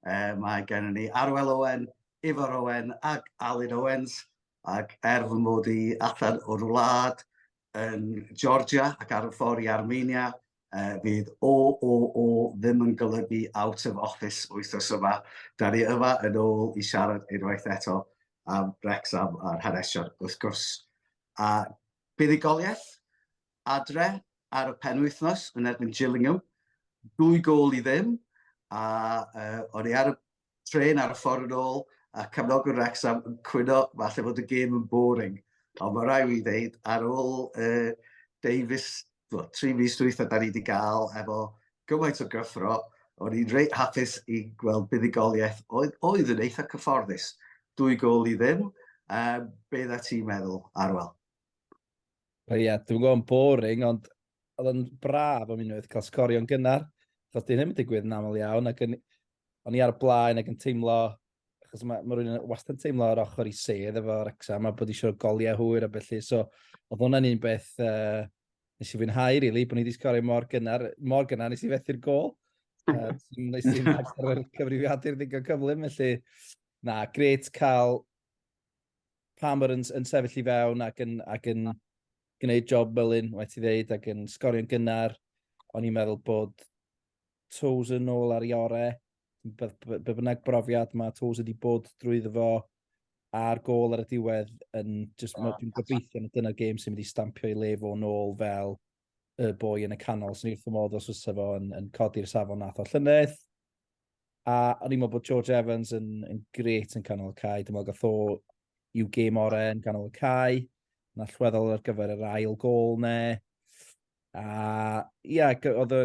Uh, mae gennym ni Arwel Owen, Ifor Owen ac Alun Owens, ac er fy mod i allan o'r wlad yn Georgia ac ar y ffordd i Armenia, uh, fydd o, o, o ddim yn golygu out of office wythnos yma. Da ni yma yn ôl i siarad unwaith eto am Wrexham a'r hanesion wrth gwrs. A buddugoliaeth, adre ar y penwythnos yn erbyn Gillingham, dwy gôl i ddim, a uh, o'n i ar y tren ar y ffordd yn ôl, a cefnogwr Wrexham yn cwyno falle fod y gêm yn boring. Ond mae rai fi ddeud, ar ôl uh, Davies, well, tri fus dwytha da ni wedi gael efo gymaint o gyffro, o'n i'n reit hapus i gweld buddigoliaeth oedd, oedd yn eitha cyfforddus. Dwy gol i ddim, um, beth a ti'n meddwl, Arwel? Ie, yeah, dwi'n gwybod yn boring, ond oedd yn braf am unwaith cael sgorio'n gynnar. Chos dyn ddim yn digwydd yn aml iawn, ac yn, o'n i ar y blaen ac yn teimlo, achos mae, mae rhywun wastad yn teimlo ar ochr i sedd efo Wrexham a bod eisiau goliau hwyr a felly. So, oedd hwnna'n un beth uh, nes i fwynhau, rili, really, bod ni wedi sgorio mor gynnar, mor gynnar nes i fethu'r gol. Uh, nes i'n agor cyfrifiadur ddigon cyflym, felly, na, gret cael Palmer yn, yn sefyll i fewn ac yn, ac yn gwneud job Mullin, waith i ddeud, ac yn sgorio'n gynnar. O'n i'n meddwl bod Toes yn ôl ar ei orau. Be, be, be bynnag brofiad mae Toes wedi bod drwy ddyfo a'r gol ar y diwedd yn just, oh, dwi'n gobeithio na dyna'r gêm sy'n mynd i stampio i le fo'n ôl fel y boi yn y canol, sy'n wrth fy modd os fysa fo yn, yn codi'r safon nath o llynedd. A o'n i'n meddwl bod George Evans yn, yn gret yn canol y cae. Dwi'n meddwl gath o i'w gêm orau yn canol y cae. Mae'n allweddol ar gyfer yr ail gol ne. A ia, oedd y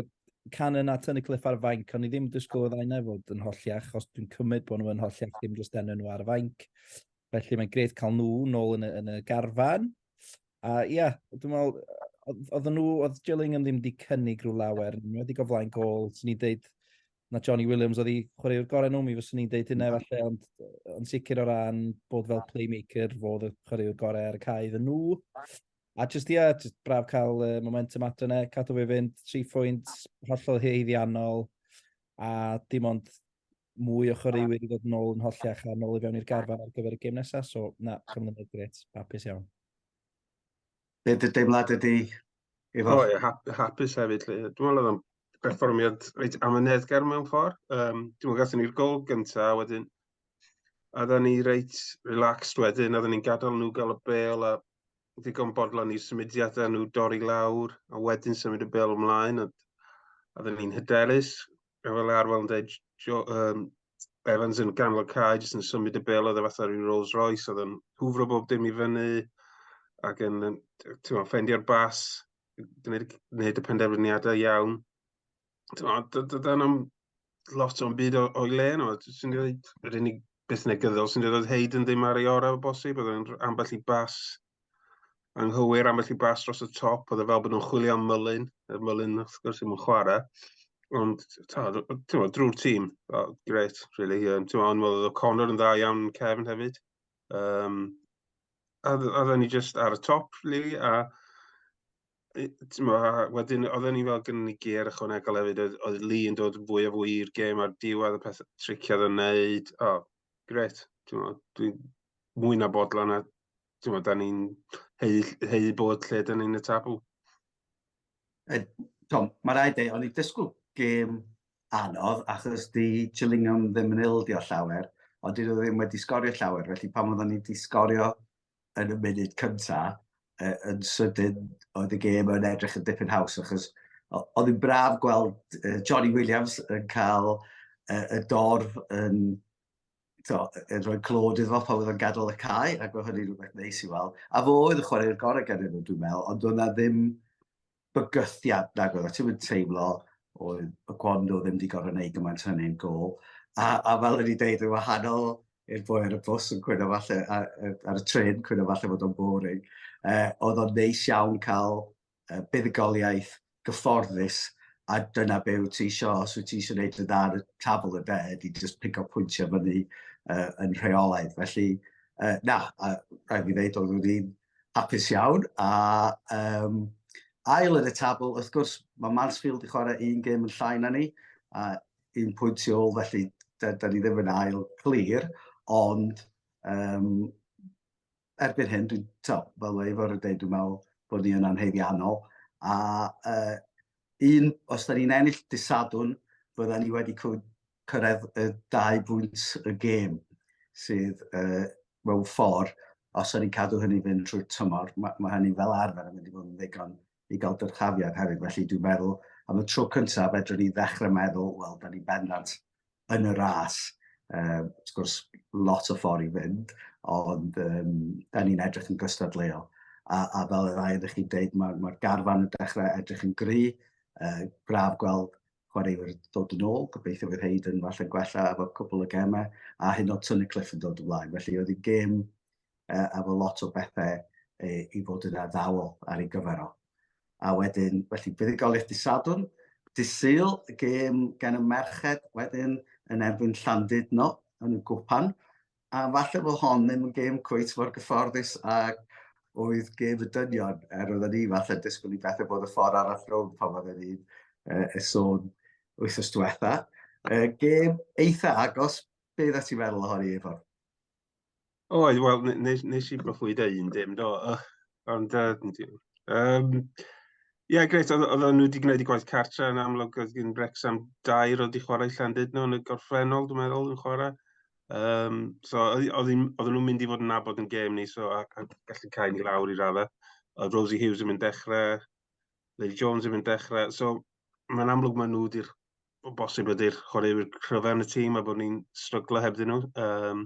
canon a tynnu cliff ar y fainc, ond i ddim disgwyl oedd aina fod yn holliach, os dwi'n cymryd bod nhw'n holliach, ddim jyst enw nhw ar y fainc. Felly mae'n gret cael nhw nôl yn y, yn y garfan. A uh, ia, yeah, dwi'n meddwl, oedd nhw, oedd Jilling yn ddim wedi cynnig rhyw lawer, nhw wedi goflaen gol, sy'n ni'n deud na Johnny Williams oedd i chwaraewr gorau nhw, mi fyswn ni'n deud hynna falle, ond yn sicr o ran bod fel playmaker, fod y chwaraewr gorau ar y cae fy nhw. A jyst ia, jyst braf cael uh, momentum ato yna, cadw fe fynd, tri phwynt, hollol heiddiannol, a dim ond mwy o chwaraewyr i ddod yn ôl yn hollach a nôl i fewn i'r garfan ar gyfer y gêm nesaf, so na, cyfnod gret, hapus iawn. Be dy deimlad ydy? O, ie, hapus hefyd. Dwi'n meddwl oedd o'n perfformiad reit amyneddgar mewn ffordd. Um, dwi'n meddwl gathen ni'r gol gyntaf, wedyn oedden ni reit relaxed wedyn, oedden ni'n gadael nhw gael y bel a ddigon bodlon i'r symudiadau nhw dorri lawr a wedyn symud y bel ymlaen. Oedden ni'n hyderus, fel fel arfer yn dweud, um, Evans yn ganol cae, jyst yn symud y bel oedd e fatha rhyw Rolls Royce, oedd yn hwfro bob dim i fyny, ac yn, ti'n meddwl, ffendio'r bas, gwneud, gwneud y penderfyniadau iawn. Dyna'n am lot o'n byd o'i le yno, sy'n dweud, yr unig beth negyddol sy'n dweud oedd Hayden ddim ar ei orau o bosib, oedd yn ambell i bas anghywir am felly bas dros y top, oedd e fel bod nhw'n chwilio am Mylun, y Mylun wrth gwrs ddim yn chwarae. Ond, ti'n drwy'r tîm, oh, gret, really. Um, ti'n ond oedd y Connor yn dda iawn Kevin hefyd. Um, a, a ni just ar y top, really, a wedyn, oedd ni fel gynnu ni ger ychwanegol hefyd, oedd, oedd Lee yn dod fwy a fwy i'r gêm ar diwedd y peth triciad yn neud. O, oh, gret. Dwi'n mwy na bodlon a ti'n gwybod, da ni'n hei, hei bod lle da ni'n y tabl. E, Tom, mae rhaid ei, o'n i dysgwyl gêm anodd achos di Chillingham ddim yn ildio llawer, ond dyn nhw ddim wedi sgorio llawer, felly pan oedden ni wedi sgorio yn y munud cynta, e, yn sydyn oedd y gêm yn edrych yn dipyn haws, achos oedd yn braf gweld e, Johnny Williams yn cael e, y dorf yn to, yn rhoi clod iddo fo pan oedd o'n gadael y cae, ac oedd hynny'n rhywbeth neis i weld. A fo oedd y chwarae'r gorau gan nhw, dwi'n meddwl, ond oedd na ddim bygythiad na oedd, a ti'n mynd teimlo oedd y Gwondo ddim wedi gorau gwneud gymaint hynny'n gol. A, a fel ydy dweud, yn wahanol i'r boi ar y bus yn cwyno falle, ar, ar y tren cwyno falle bod o'n boring, eh, oedd o'n neis iawn cael buddugoliaeth gyfforddus a dyna be wyt ti isio, os wyt ti eisiau gwneud yn dda ar y tabl ynde, ydy jyst pigo pwyntiau fyny uh, yn rheolaidd. Felly, uh, na, a rhaid fi ddeud, oedd wedi'n hapus iawn. A um, ail yn y tabl, wrth gwrs, mae Mansfield i chwarae un gêm yn llai na ni, a un pwynt i ôl, felly da, da ni ddim yn ail clir, ond um, erbyn hyn, dwi'n, to, fel mae Ifor yn dweud, dwi'n meddwl bod ni yn anheddiannol. A uh, un, os da ni'n ennill disadwn, bydda ni wedi cyrraedd y dau bwynt y gêm sydd uh, mewn ffordd, os da ni'n cadw hynny fynd trwy'r tymor, mae, mae hynny fel arfer yn mynd i fod yn ddigon i gael dyrchafiad hefyd. Felly dwi'n meddwl, am y tro cyntaf, fedrwn ni ddechrau meddwl, wel, da ni bendant yn y ras. Um, wrth gwrs, lot o ffordd i fynd, ond um, da ni'n edrych yn gystadleuol. A, a fel y ddau ydych chi'n dweud, mae'r ma garfan yn dechrau edrych yn gry. Uh, braf gweld chwaraewyr dod yn ôl, gobeithio fydd Hayden falle gwella efo cwbl o gemau, a hyn o Tony Cliff yn dod yn flaen. Felly oedd hi'n gêm uh, a fo lot o bethau uh, i fod yn addawol ar ei gyfer o. A wedyn, felly, buddugoliaeth disadwn, disyl, gêm gan y merched wedyn yn erbyn Llandudno yn y gwpan, a falle fo hon ddim yn gêm cwyt mor gyfforddus ag oedd gêm y dynion, er oedd ni falle disgwyl i bethau bod y ffordd arall rownd pan oedd ni'n uh, e sôn wythnos diwetha. Uh, gêm eitha agos, beth ydych ti'n meddwl ohoni, Efor? Oedd, wel, nes, nes i broffwyd da un dim, do. Ond, um, ie, greit, oedd nhw wedi gwneud i gwaith cartre yn amlwg, oedd gen Wrexham dair oedd wedi chwarae Llandudno yn y gorffennol, dwi'n meddwl, yn chwarae. Um, so, oedd nhw'n mynd i fod yn nabod yn gêm ni, so, a, a gallu cael ni lawr i raddau. Oedd Rosie Hughes yn mynd dechrau, Lily Jones yn mynd dechrau, so, mae'n amlwg maen nhw wedi'r o bosib ydy'r chwaraewyr cryfaf yn y tîm a bod ni'n stryglo hebddyn nhw. Um,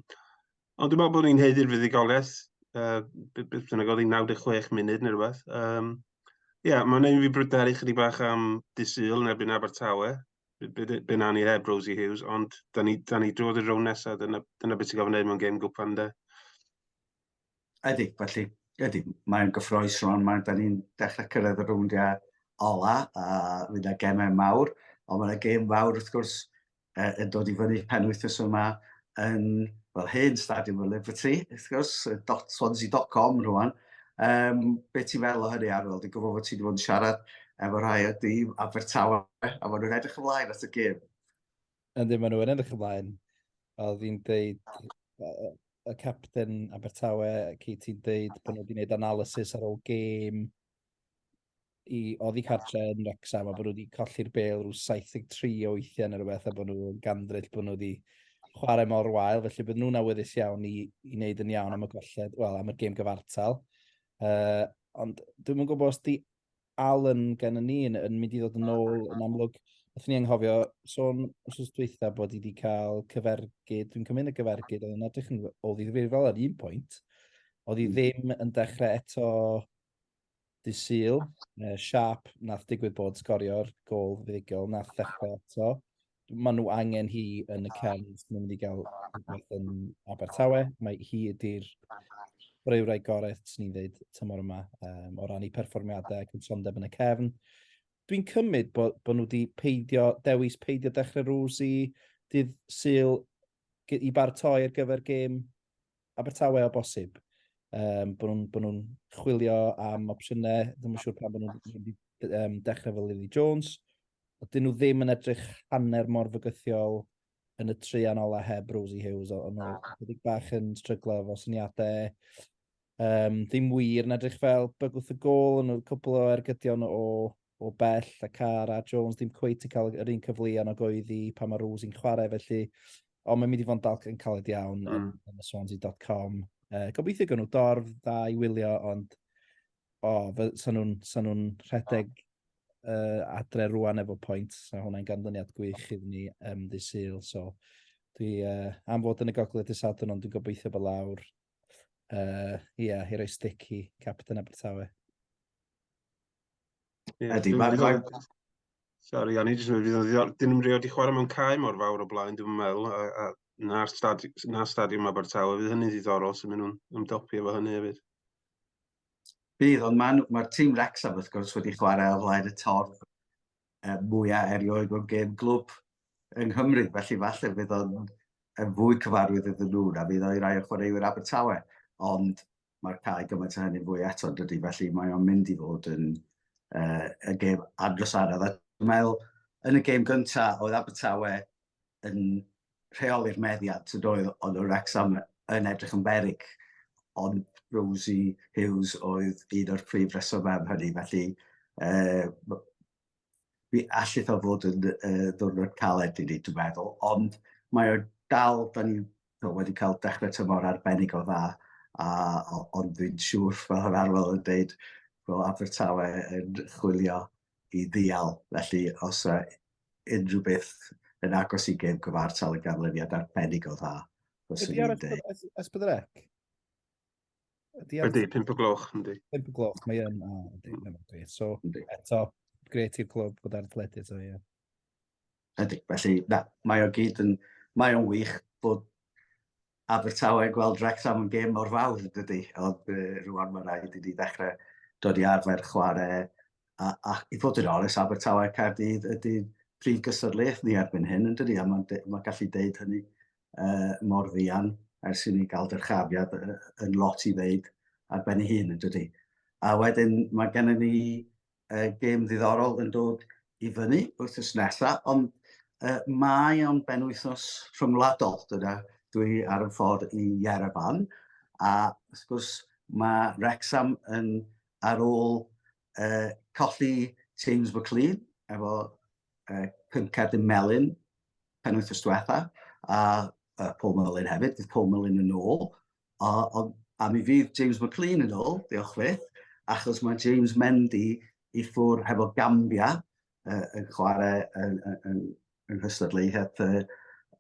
ond dwi'n meddwl bod ni'n heiddi'r fuddugoliaeth, uh, beth bynnag oedd 96 munud neu rhywbeth. Um, Ie, yeah, mae'n ein fi bryderu chydig bach am disyl yn erbyn Abertawe. Be na ni heb Rosie Hughes, ond da ni, da ni drod i'r rown nesaf, dyna, dyna beth sy'n gofyn ei mewn gêm gwpan de. Ydy, felly, ydy, mae'n gyffroes rhwng, mae'n da ni'n dechrau cyrraedd y rowndiau ola, a fydd yna gemau mawr, ond mae'n yna gem fawr wrth gwrs uh, yn dod i fyny pen wythnos yma yn, fel hyn, Stadiwm y Liberty, wrth gwrs, swansea.com rhywun. Um, be ti'n fel o hynny Arwel? Dwi'n gwybod bod ti wedi bod yn siarad efo rhai o dîm Abertawe, a maen nhw'n edrych ymlaen at y gêm. Ynddi, maen nhw yn edrych ymlaen. Oedd hi'n deud, y capten Abertawe, Keith, hi'n deud bod nhw wedi gwneud analysis ar ôl gêm i oddi cartre yn Rexham, a bod nhw wedi colli'r bel rhyw 73 o weithiau neu rhywbeth, a bod nhw yn gandryll bod nhw wedi chwarae mor wael, felly bod nhw'n awyddus iawn i, i wneud yn iawn am y golled, wel, am y gêm gyfartal. Uh, ond dwi'n mwyn gwybod os di Alan gennym ni yn, yn mynd i ddod yn ôl yn amlwg. Wrth ni anghofio sôn wrth dweitha bod i wedi cael cyfergyd, dwi'n cymryd y cyfergyd, oedd yn edrych yn ôl i ddifrifol ar un pwynt. Oedd hi hmm. ddim yn dechrau eto dydd syl, uh, siap nath digwydd bod sgorio'r gol fuddugol, nath ddechrau eto. Mae nhw angen hi yn y cefn, mae'n mynd i gael rhywbeth yn Abertawe. Mae hi ydy'r breurau gorau, swn i'n dweud, tymor yma, um, o ran i perfformiadau ac yn sondeb yn y cefn. Dwi'n cymryd bod, bod nhw wedi peidio, dewis peidio dechrau rŵs i dydd syl i bartoi ar gyfer gêm Abertawe o bosib. Um, bod nhw'n nhw chwilio am opsiynau, ddim yn siŵr pan bod nhw'n um, dechrau fel Lily Jones. Dyn nhw ddim yn edrych hanner mor fygythiol yn y tri anola heb Rosie Hughes, ond nhw wedi bach yn stryglo efo syniadau. Um, ddim wir yn edrych fel bygwth y gol, ond nhw'n cwbl o ergydion o o bell a car a Jones ddim cweith yn cael yr un cyfleon o goeddi pan mae Rose yn chwarae felly Ond mae'n mynd i fod yn dalc yn caled iawn mm. yn y Swansea.com. Uh, gobeithio gan nhw dorf dda i wylio, ond o, oh, sa'n nhw'n sa nhw rhedeg uh, adre rwan efo pwynt. So hwnna'n ganlyniad gwych iddyn ni um, ddi syl. So dwi uh, am fod yn y gogledd dy sadwn, ond dwi'n gobeithio bod lawr. Ie, uh, yeah, i roi stick i Captain Abertawe. Ydy, mae'n rhaid... Sorry, o'n i jyst yn meddwl, fydd dyn nhw'n rhoi di chwarae mewn cae mor fawr o blaen, dwi'n meddwl, a, a na, stadi, na stadiwm Abertawe, fydd hynny'n ddiddorol sy'n mynd nhw'n ymdopi efo hynny hefyd. Bydd, ond mae'r ma tîm Wrexham, wrth gwrs, wedi chwarae o flaen y torf e, mwyaf erioed o'n gêm glwb yng Nghymru, felly falle fydd o'n yn fwy cyfarwydd iddyn nhw na fydd o'i rai o chwaraewyr Abertawe. Ond Mae cael gymaint o hynny'n fwy eto, dydy, felly mae o'n mynd i fod yn uh, y gêm adros arall. Dwi'n meddwl, yn y gêm gyntaf, oedd Abertawe yn rheoli'r meddiad, sy'n oedd, ond o Rexham yn edrych yn berig, ond Rosie Hughes oedd un o'r prif resymau am hynny, felly uh, Mi allith o fod yn uh, ddwrnod caled i ni, dwi'n meddwl, ond mae o dal, da ni wedi cael dechrau tymor arbennig o dda, a, ond dwi'n siŵr, fel yr arwel yn dweud, bod Abertawe yn chwilio i ddial. Felly, os uh, unrhyw beth yn agos i gêm cyfartal yn ganlyniad arbennig o dda, fyswn i'n dweud. Ydy ar Ysbyddrec? Ydy, ydy, pimp o gloch, ydy. Pimp o gloch, mae yn, a, ydy, mm. ydy. So, ydy. eto, gret i'r clwb bod ar athletu, so, ie. Yeah. Ydy, felly, na, mae o gyd yn, mae o'n wych bod Abertawe gweld Wrexham yn gêm o'r fawr, dydy. Ond uh, rwan mae'n rhaid i ni ddechrau dod i arfer chwarae. A, a i fod yn oles, Abertawe Caerdydd ydy prif gysadlaeth ni erbyn hyn, yn dydy, a mae'n ma gallu deud hynny uh, mor ddian ers i ni gael dyrchafiad uh, yn lot i ddeud ar ben ei hun yn dydy. A wedyn mae gennym ni uh, gêm ddiddorol yn dod i fyny wrth ys nesaf, ond uh, mae o'n benwythnos rhyngwladol. Dyna, dwi ar y ffordd i Yerevan, a wrth gwrs mae Rexham yn ar ôl uh, colli James McLean efo uh, Pyncad y Melin pen wythnos diwetha, a uh, Paul Mullin hefyd, fydd Paul Mullin yn ôl. A, a, a mi fydd James McLean yn ôl, diolch fydd, achos mae James Mendy i ffwr hefo Gambia uh, yn chwarae yn, yn, yn, yn hystadleuaeth uh,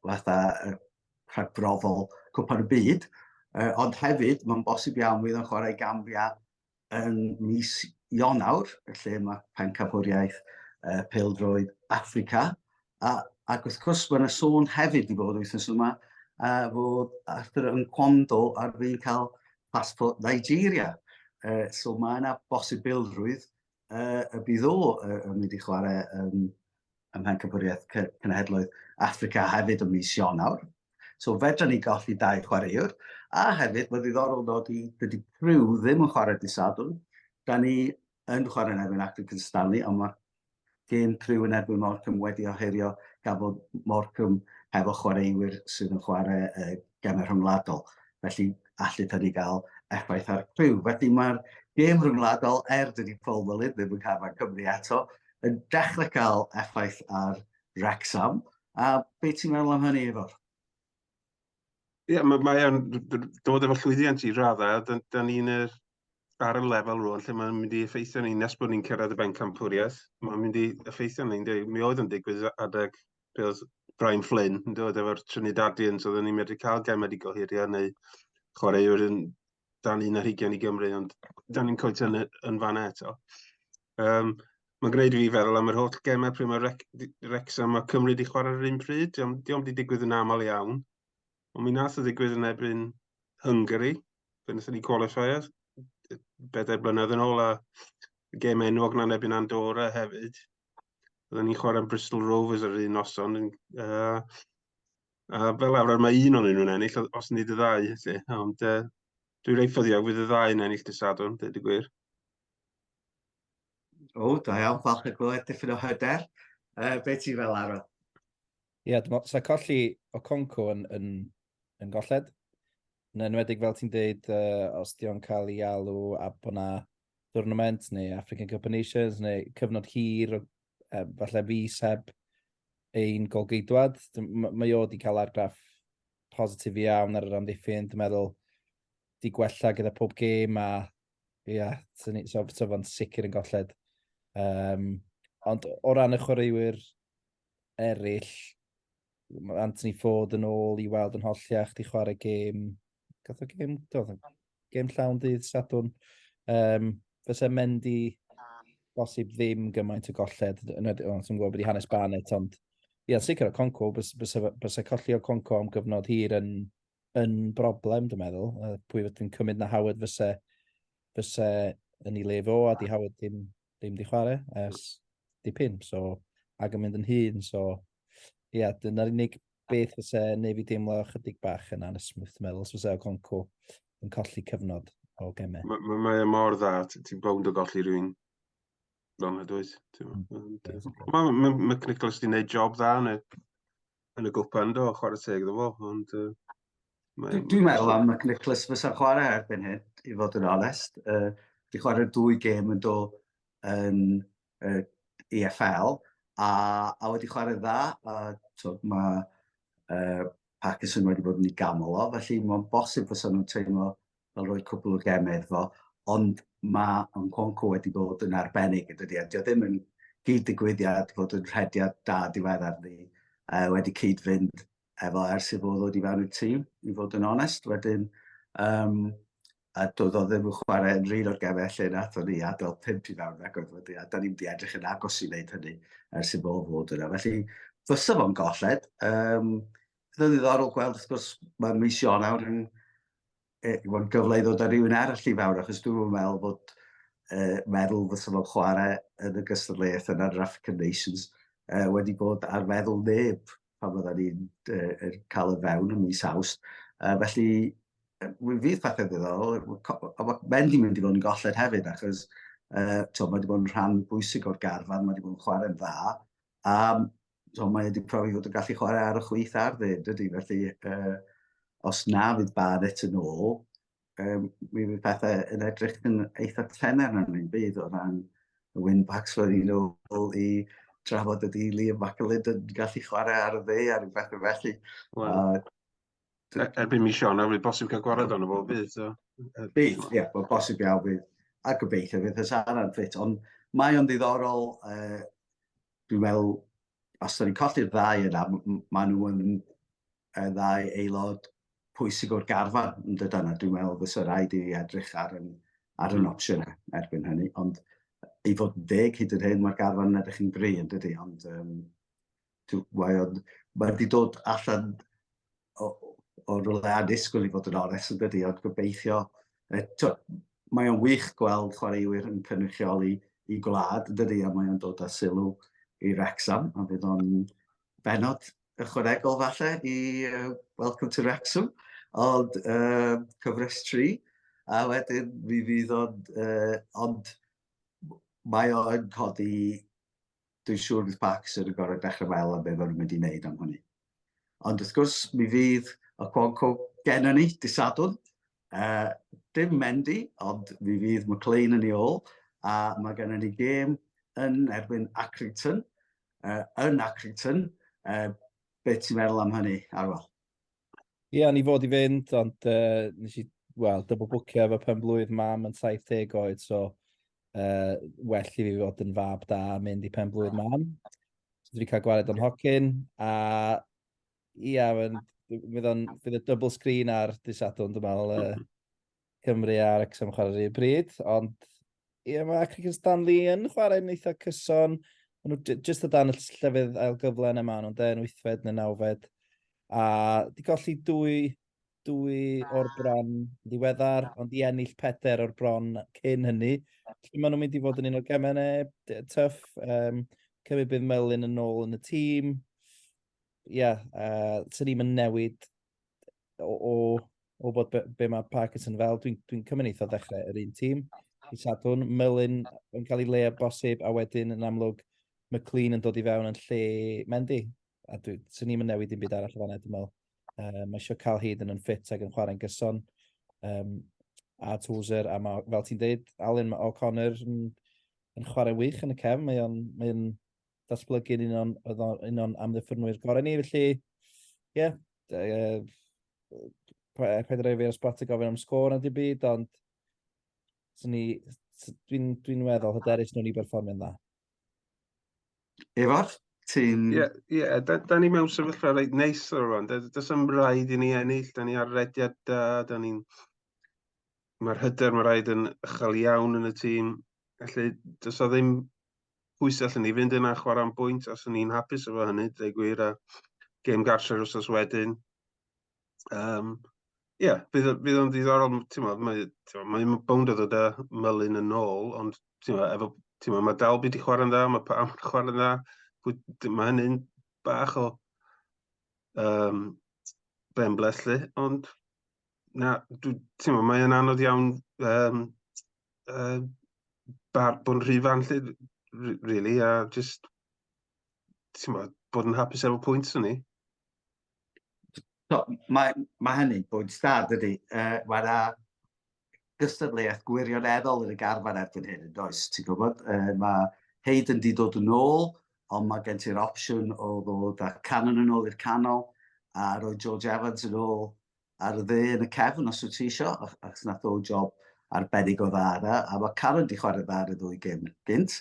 fatha uh, rhagbrofol Cwpan y Byd. Uh, ond hefyd, mae'n bosib iawn fydd yn chwarae Gambia yn mis Ionawr, lle mae Pencampwriaeth uh, Peldroed Africa, a, ac wrth gwrs mae yna sôn hefyd i fod wythnos yma a fod Arthur yn cwando ar fi'n cael passport Nigeria. Uh, so mae yna bosibilrwydd uh, y bydd o uh, yn mynd i chwarae um, ym Mhencampwriaeth Cenhedloedd Africa hefyd ym mis Ionawr. So fedra ni golli dau chwaraewr. A hefyd, mae'n ddiddorol dod i dydy Pryw ddim yn chwarae disadwn. Da ni yn chwarae yn erbyn Acton Cynstanu, ond mae gêm Pryw yn erbyn Morcum wedi oherio gafodd Morcum hefo chwaraewyr sydd yn chwarae uh, gem y rhyngwladol. Felly, allu hynny gael effaith ar criw. Felly mae'r gêm rhyngwladol, er dydy Paul Mullin ddim yn cael mae Cymru ato, yn dechrau cael effaith ar Wrexham. A beth ti'n meddwl am hynny, Ifor? Ie, yeah, mae o'n dod efo llwyddiant i raddau. Da, da ni'n er, ar y lefel rôl lle mae'n mynd i effeithio ni nes bod ni'n cyrraedd y bencampwriaeth. Mae'n mynd i effeithio ni, ynddi. Mi oedd yn digwydd adeg be oedd Brian Flynn yn dod efo'r Trinidadians, oedden ni'n medru cael gem wedi gohirio neu chwaraewr yn dan un ar hugen i Gymru, ond da ni'n coet yn, yn fan eto. Um, mae'n gwneud i fi feddwl am yr holl gemau pryd mae Rec Wrexham a Cymru wedi chwarae yr un pryd. Diolch wedi digwydd yn aml iawn. Ond mi nath o ddigwydd yn ebyn Hungary, fe wnaethon ni qualifier, bedair blynedd yn ôl, a gêm enwog na'n ebyn Andorra hefyd. Oedden ni'n chwarae Bristol Rovers yr un noson. Uh, a fel arfer mae un o'n nhw'n ennill, os nid y ddau, lle. Ond uh, dwi'n reit ffyddiog fydd y ddau yn ennill dysadwn, dweud y gwir. O, da iawn, falch y glywed dipyn o hyder. Uh, be ti fel arfer? Ie, yeah, dwi'n meddwl, so colli o Conco yn, yn, yn golled. Yn enwedig fel ti'n deud, uh, os di o'n cael ei alw a bod na tournament neu African Cup of Nations neu cyfnod hir, uh, falle fus heb ein golgeidwad. Mae o wedi cael argraff positif iawn ar yr amddiffyn. Dwi'n meddwl, di gwella gyda pob gêm a ie, yeah, so, so fo'n sicr yn golled. Um, ond o ran y chwaraewyr eraill, mae Anthony Ford yn ôl i weld yn holliach, di chwarae gêm, gath o gêm, do, gêm llawn dydd Sadwn. Um, fysa Mendy bosib ddim gymaint o golled, yn edrych, o'n ti'n gwybod bod i hanes Barnett, ond ia, sicr o Conco, bysa colli o Conco am gyfnod hir yn, yn broblem, dwi'n meddwl. Pwy fydd yn cymryd na Howard fysa, fysa yn ei lef o, a di Howard ddim ddim di chwarae ers dipyn, so, ac yn mynd yn hun, so, ie, yeah, dyna'r unig beth fyse neu fi deimlo chydig bach yn anesmwyth, dwi'n meddwl, os fyse Oconco yn colli cyfnod o gemau. Mae ma, ma e mor dda, ti'n bawnd o golli rhywun fel yna, dweud. Mae ma, ma, ma Nicholas wedi gwneud job dda, neu yn y gwpan do, chwarae teg iddo fo, ond... Uh, mae... Dwi'n meddwl am Mac Nicholas fysa chwarae erbyn hyn, i fod yn onest. Uh, di chwarae dwy gêm yn do yn uh, EFL, a, a wedi chwarae dda, a to, mae uh, Parkinson wedi bod yn ei gamol o, felly mae'n bosib fysa nhw'n teimlo fel rhoi cwpl o gemau iddo fo, ond mae Nkounkou wedi bod yn arbennig yn dydi, a dio ddim yn gyd-digwyddiad fod yn rhediad da diweddar ni uh, wedi cyd-fynd efo ers i fod ddod i fewn i'r tîm, i fod yn onest. Wedyn, um, a doedd o ddim yn chwarae yn rhan o'r gemau lle nath o'n ni adael pimp i fewn ac oedd wedi, a da ni'n wedi edrych yn agos i wneud hynny ers i fod fod yna. Felly, fysa fo'n golled, um, Bydd yn ddiddorol gweld, wrth gwrs, mae mis Ionawr yn e, bod gyfle i ddod â rhywun arall i fawr, achos dwi'n meddwl bod e, meddwl fy sylw'n chwarae yn y gystadleuaeth yna yn yr African Nations e, wedi bod ar meddwl neb pan fydda ni'n e, er, cael y fewn yn mis awst. E, felly, mi fydd pethau ddiddorol, a mae Mendy mynd i fod yn golled hefyd, achos e, to, mae wedi bod yn rhan bwysig o'r garfan, mae wedi bod yn chwarae'n dda, A so, mae wedi profi fod yn gallu chwarae ar y chwyth ar ddyn, dydy. Felly, uh, os na fydd Barrett yn ôl, um, mi fydd pethau yn edrych yn eitha tener yn ein byd o ran y win-backs oedd i'n ôl i trafod ydy Liam McAlid yn gallu chwarae ar y dde ar rhywbeth felly. Wow. Uh, E- Erbyn mis Ionawr, bydd bosib cael gwared ond o fo bydd. So. Bydd, ie, yeah, bosib iawn bydd. A gobeithio fydd y Sara'n ffit. Ond mae o'n ddiddorol, uh, dwi'n meddwl, os da ni'n colli'r ddau yna, maen nhw yn uh, ddau aelod pwysig o'r garfan yn dod yna. Dwi'n meddwl fes y rhaid i edrych ar yn, ar yn hmm. opsiynau erbyn hynny. Ond i fod yn deg hyd yn hyn, mae'r garfan yn edrych yn gri yn dydy. Ond um, mae o'n, mae wedi dod allan o, o rhywle anusgwyl i fod yn onest yn dydi, ond gobeithio, e, to, mae o'n wych gweld chwaraewyr yn cynrychioli i gwlad yn dydi, a mae o'n dod â sylw i Rexham, a fydd o'n benod ychwanegol falle i uh, Welcome to Rexham, ond uh, cyfres 3, a wedyn mi fydd o'n, uh, ond mae o'n codi dwi'n siŵr bydd Baxter yn gorfod dechrau meddwl am be maen nhw'n mynd i wneud am hynny. Ond wrth gwrs, mi fydd y Quanco gennym ni dy Sadwrn. Uh, dim Mendy, ond mi fydd McLean yn ei ôl, a mae gennym ni gêm yn erbyn Accrington, uh, yn Accrington. Uh, be ti'n meddwl am hynny, Arwel? Ie, yeah, ni fod i fynd, ond uh, nes i, wel, dybl bwcio efo pen blwydd mam yn 70 oed, so uh, well i fi fod yn fab da a mynd i pen blwydd mam. So, dwi cael gwared o'n hocyn, a ia, yeah, fydd y double screen ar dysadwn, dwi'n meddwl, uh, Cymru a Wrexham yn chwarae rhywun bryd, ond ie, yeah, mae Cricken Stanley yn chwarae'n eitha cyson. Maen nhw jyst o dan y llefydd ail gyfle yna maen nhw'n dweud yn wythfed neu nawfed. A di golli dwy, dwy o'r ah. bron ddiweddar, ah. ond i ennill peder o'r bron cyn hynny. Felly maen nhw'n mynd i fod yn un o'r gemau neu tyff. Um, Cymru bydd Melin yn ôl yn y tîm. Ie, yeah, uh, sy'n ni'n newid o, o, o bod be, be mae Parkinson fel, dwi'n dwi, dwi cymryd eitha ddechrau yr un tîm. I Sadwn, Melin yn cael ei le bosib, a wedyn yn amlwg McLean yn dod i fewn yn lle Mendy. A dwi, sy'n ni'n newid i'n byd arall o fanna, dwi'n meddwl. Um, mae eisiau cael hyd yn yn ffit ac yn chwarae'n gyson. Um, a Tozer, a mae, fel ti'n dweud, Alun, mae O'Connor yn, yn chwarae wych yn y cefn. Mae o'n, mae datblygu'n un o'n, oedd o'n un o'n amddiffynwyr gorau ni, felly, ie, yeah, uh, paid rhaid fi ar sbot i gofyn am sgôr na dim byd, ond dwi'n dwi meddwl hyderus nhw'n i berfformio'n dda. Efo'r? ti'n... Ie, yeah, yeah, da, da ni mewn sefyllfa reit neis ar rwan. Does am rhaid i ni ennill, da ni ar rediad da, da ni'n... Mae'r hyder, mae rhaid yn ychel iawn yn y tîm. Felly, does o ddim pwy sy'n allan ni fynd yna a chwarae am bwynt, os o'n i'n hapus efo hynny, dweud gwir, a gêm gartre'r wrthnos wedyn. Um, Ie, yeah, bydd, bydd o'n ddiddorol, ti'n meddwl, mae, mae bownd o ddod â mylun yn ôl, ond ti'n meddwl, efo, ti'n meddwl, mae Dalby di chwarae'n dda, mae Pam di chwarae'n dda, mae hynny'n bach o um, ben bleslu, ond Na, ti'n mae yna anodd iawn um, uh, bar bod yn rhy fan lle, really, a just, ti'n ma, bod yn hapus efo pwynt o'n ni. So, mae, mae hynny'n bwynt stad ydy. Uh, mae yna gystadleuaeth gwirioneddol yn y garfan erbyn hyn, yn does, ti'n gwybod? Uh, mae Heid yn di dod yn ôl, ond mae gen ti'r opsiwn o ddod a canon yn ôl i'r canol, a roi George Evans yn ôl ar y dde yn y cefn os wyt ti isio, achos nath o job arbennig o dda yna, a mae Karen di chwarae dda ar y ddwy gym gynt,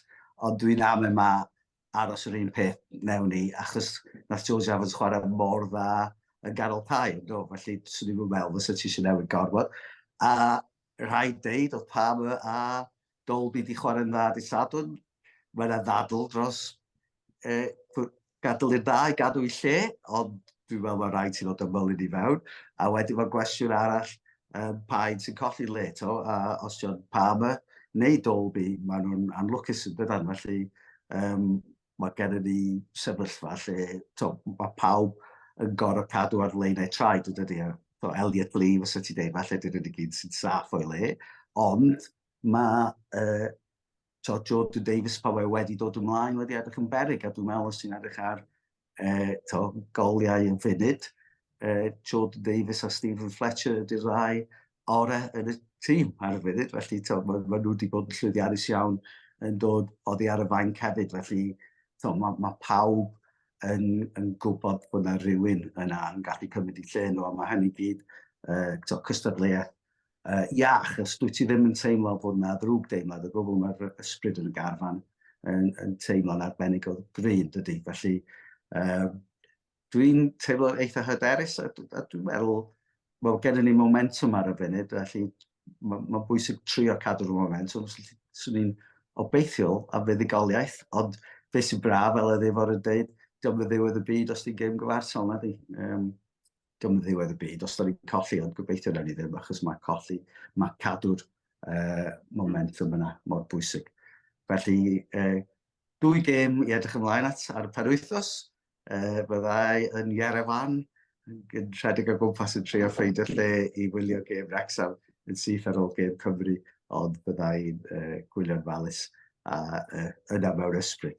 ond dwi'n am e ma aros yr un peth mewn ni, achos nath George Evans chwarae mor dda yn ganol tai, no, felly swn i'n meddwl fysa ti eisiau newid gorfod. A rhaid deud oedd Palmer a Dolby 'di chwarae'n dda dydd Sadwrn. Mae yna ddadl dros e, gadw i'r dda i gadw i lle, ond dwi'n meddwl mae rhaid ti'n fod ymwylyn i fewn. A wedyn mae gwestiwn arall, um, pa un sy'n colli'n le to, a os John Palmer neu Dolby, mae nhw'n anlwcus yn dydan, felly um, mae gennym ni sefyllfa lle to, mae pawb yn gorau cadw ar leunau traed, ydy, e? to Elliot Lee, fysa ti'n dweud, falle dyn nhw'n gyd sy'n saff o'i le, ond Mae yy t'od Jordan Davies pan mae wedi dod ymlaen wedi edrych yn beryg a dwi'n meddwl os ti'n edrych ar yy t'od goliau yn funud yy Jordan Davies a Stephen Fletcher ydy'r ddau ore yn y tîm ar y funud felly t'od ma' ma' nhw wedi bod yn llwyddiannus iawn yn dod oddi ar y fainc hefyd felly t'od ma' ma' pawb yn yn gwybod bod 'na rywun yna yn gallu cymryd 'u lle nhw a ma' hynny i gyd yy t'od cystadleuaeth iach, os dwyt ti ddim yn teimlo bod yna ddrwg deimlad o gwbl, mae'r ysbryd yn y garfan yn, yn teimlo'n arbennig o gryf, dydy. Felly, um, dwi'n teimlo eitha hyderus, a, a dwi'n meddwl, wel, gennym ni momentum ar y funud, felly mae'n ma bwysig trio cadw'r momentum. Swn i'n obeithiol am fuddugoliaeth, ond beth sy'n braf, fel y ddefo'r yn dweud, diolch yn ddiwedd y byd os ti'n gêm gyfartal, na di. Um, diolch yn ddiwedd y byd, os da ni'n colli, ond gobeithio na ni ddim, achos mae colli, mae cadw'r uh, momentum yna mor bwysig. Felly, uh, dwy gêm i edrych ymlaen at ar y perwythos, uh, byddai yn Iarefan, yn rhedeg o gwmpas yn treio ffeidio lle i wylio gêm Rexham yn syth ar ôl gêm Cymru, ond byddai'n uh, gwylio'n falus a uh, yna mewn ysbryd.